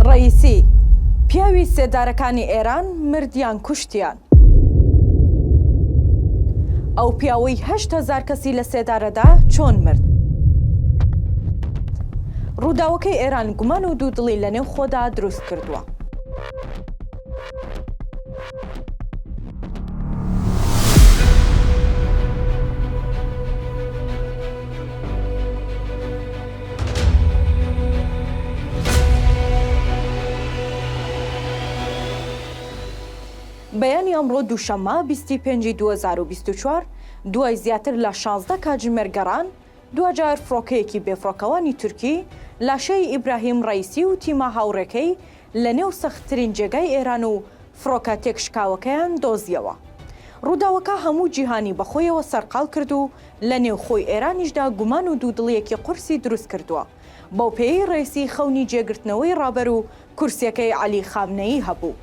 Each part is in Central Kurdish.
ڕەئیسی، پیاوی سێدارەکانی ئێران مرد یان کوشتیان. ئەو پیاوەی هەشت هەزار کەسی لە سێدارەدا چۆن مرد؟ ڕووداوەکەی ئێران گومان و دوودڵی لە نێو خۆدا دروست کردووە. بەیانی ئەمڕۆ دووشەممە بیست و پێنج ی دوو هەزار و بیست و چوار دوای زیاتر لە شازدە کاتژمێر گەڕان، دواجار فڕۆکەیەکی بێفڕۆکەوانی تورکی لاشەی ئیبراهیم ڕەیسی و تیمە هاوڕێکەی لەنێو سەختترین جێگای ئێران و فڕۆکە تێکشکاوەکەیان دۆزییەوە. ڕووداوەکە هەموو جیهانی بەخۆیەوە سەرقاڵ کرد و لە نێوخۆی ئێرانیشدا گومان و دوودڵییەکی قورسی دروست کردووە. بەو پێیەی ڕەیسی خەونی جێگرتنەوەی ڕابەر و کورسیەکەی عەلی خامنەیی هەبوو.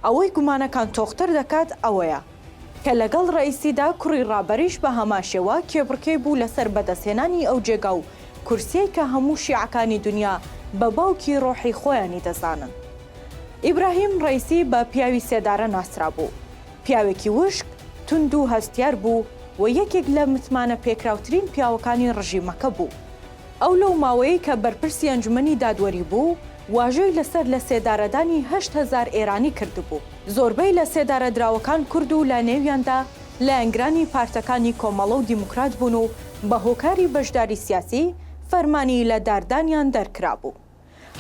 ئەوەی گومانەکان تۆختر دەکات ئەوەیە. کە لەگەڵ ڕەئیسیدا کوڕی ڕابەریش بە هەمان شێوە کێبڕکێی بوو لەسەر بەدەستهێنانی ئەو جێگا و کورسیەی کە هەموو شیعەکانی دونیا بە باوکی ڕۆحی خۆیانی دەزانن. ئیبراهیم ڕەیسی بە پیاوی سێدارە ناسرابوو. پیاوێکی وشک، توند و هەستیار بوو و یەکێک لە متمانە پێکراوترین پیاوەکانی ڕژیمەکە بوو. ئەو لەو ماوەیەی کە بەرپرسی ئەنجومەنی دادوەری بوو، واژۆی لەسەر لە سێدارەدانی هەشت هەزار ئێرانی کردبوو. زۆربەی لە سێدارەدراوەکان کورد و لە نێویاندا لایەنگرانی پارتەکانی کۆمەڵە و دیموکرات بوون و بە هۆکاری بەشداری سیاسی فەرمانی لە داردانیان دەرکرابوو.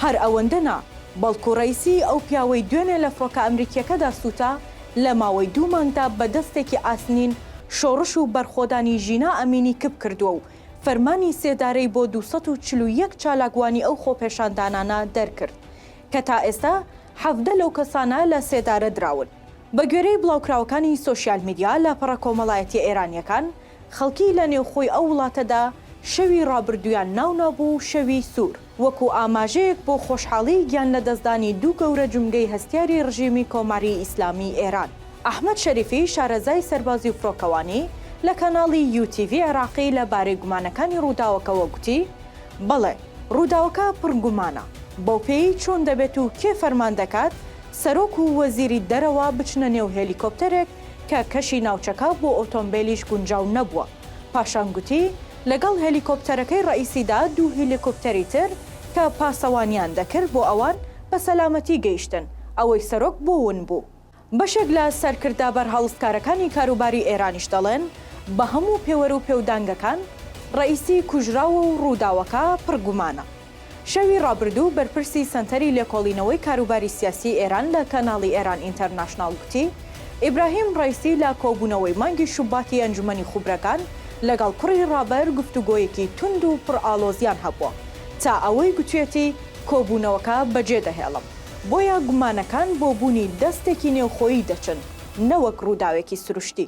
هەر ئەوەندە نا، بەڵکو ڕەیسی ئەو پیاوەی دوێنێ لە فڕۆکە ئەمریکییەکەدا سووتا، لە ماوەی دوو مانگدا بە دەستێکی ئاسنین شۆڕش و بەرخۆدانی ژینا ئەمینی کپ کردووە و فەرمانی سێدارەی بۆ دوو سەد و چل و یەک چالاکوانی ئەو خۆپێشاندانانە دەرکرد کە تا ئێستا حەڤدە لەو کەسانە لە سێدارە دراون. بە گوێرەی بڵاوکراوەکانی سۆشیال میدیا، لاپەڕە کۆمەڵایەتیە ئێرانییەکان، خەڵکی لە نێوخۆی ئەو وڵاتەدا شەوی ڕابردوویان ناو نابوو شەوی سوور، وەکوو ئاماژەیەک بۆ خۆشحاڵیی گیان لەدەستدانی دوو گەورە جومگەی هەستیاری ڕژیمی کۆماری ئیسلامیی ئێران. ئەحمەد شەریفی شارەزای سەربازی و فڕۆکەوانی لە کاناڵی یوو تیڤی عێراقی لە بارەی گومانەکانی ڕووداوەکەوە گوتی، بەڵێ، ڕووداوەکە پڕ گومانە، بەوپێیەی چۆن دەبێت و کێ فەرمان دەکات سەرۆک و وەزیری دەرەوە بچنە نێو هێلیکۆپتەرێک کە کەشی ناوچەکە بۆ ئۆتۆمبێلیش گونجاو نەبووە، پاشان گوتی لەگەڵ هێلیکۆپتەرەکەی ڕەئیسیدا دوو هێلیکۆپتەری تر کە پاسەوانیان دەکرد بۆ ئەوان بە سەلامەتی گەیشتن، ئەوەی سەرۆک بۆ ون بوو. بەشێک لە سەرکردە بەرهەڵستکارەکانی کاروباری ئێرانیش دەڵێن، بە هەموو پێوەر و پێودانگەکان، ڕەئیسی کوژراوە و ڕووداوەکە پڕ گومانە. شەوی ڕابردوو بەرپرسی سەنتەری لێکۆڵینەوەی کاروباری سیاسیی ئێران لە کەناڵی ئێران ئینتەرناشناڵ گوتی، ئیبراهیم ڕەئیسی لە کۆبوونەوەی مانگی شوباتی ئەنجومەنی خوبرەکان لەگەڵ کوڕی ڕابەر گفتوگۆیەکی توند و پڕ ئاڵۆزیان هەبووە تا ئەوەی گوتویەتی کۆبوونەوەکە بەجێدەهێڵم. بۆیە گومانەکان بۆ بوونی دەستێکی نێوخۆیی دەچن نەوەک ڕووداوێکی سروشتی.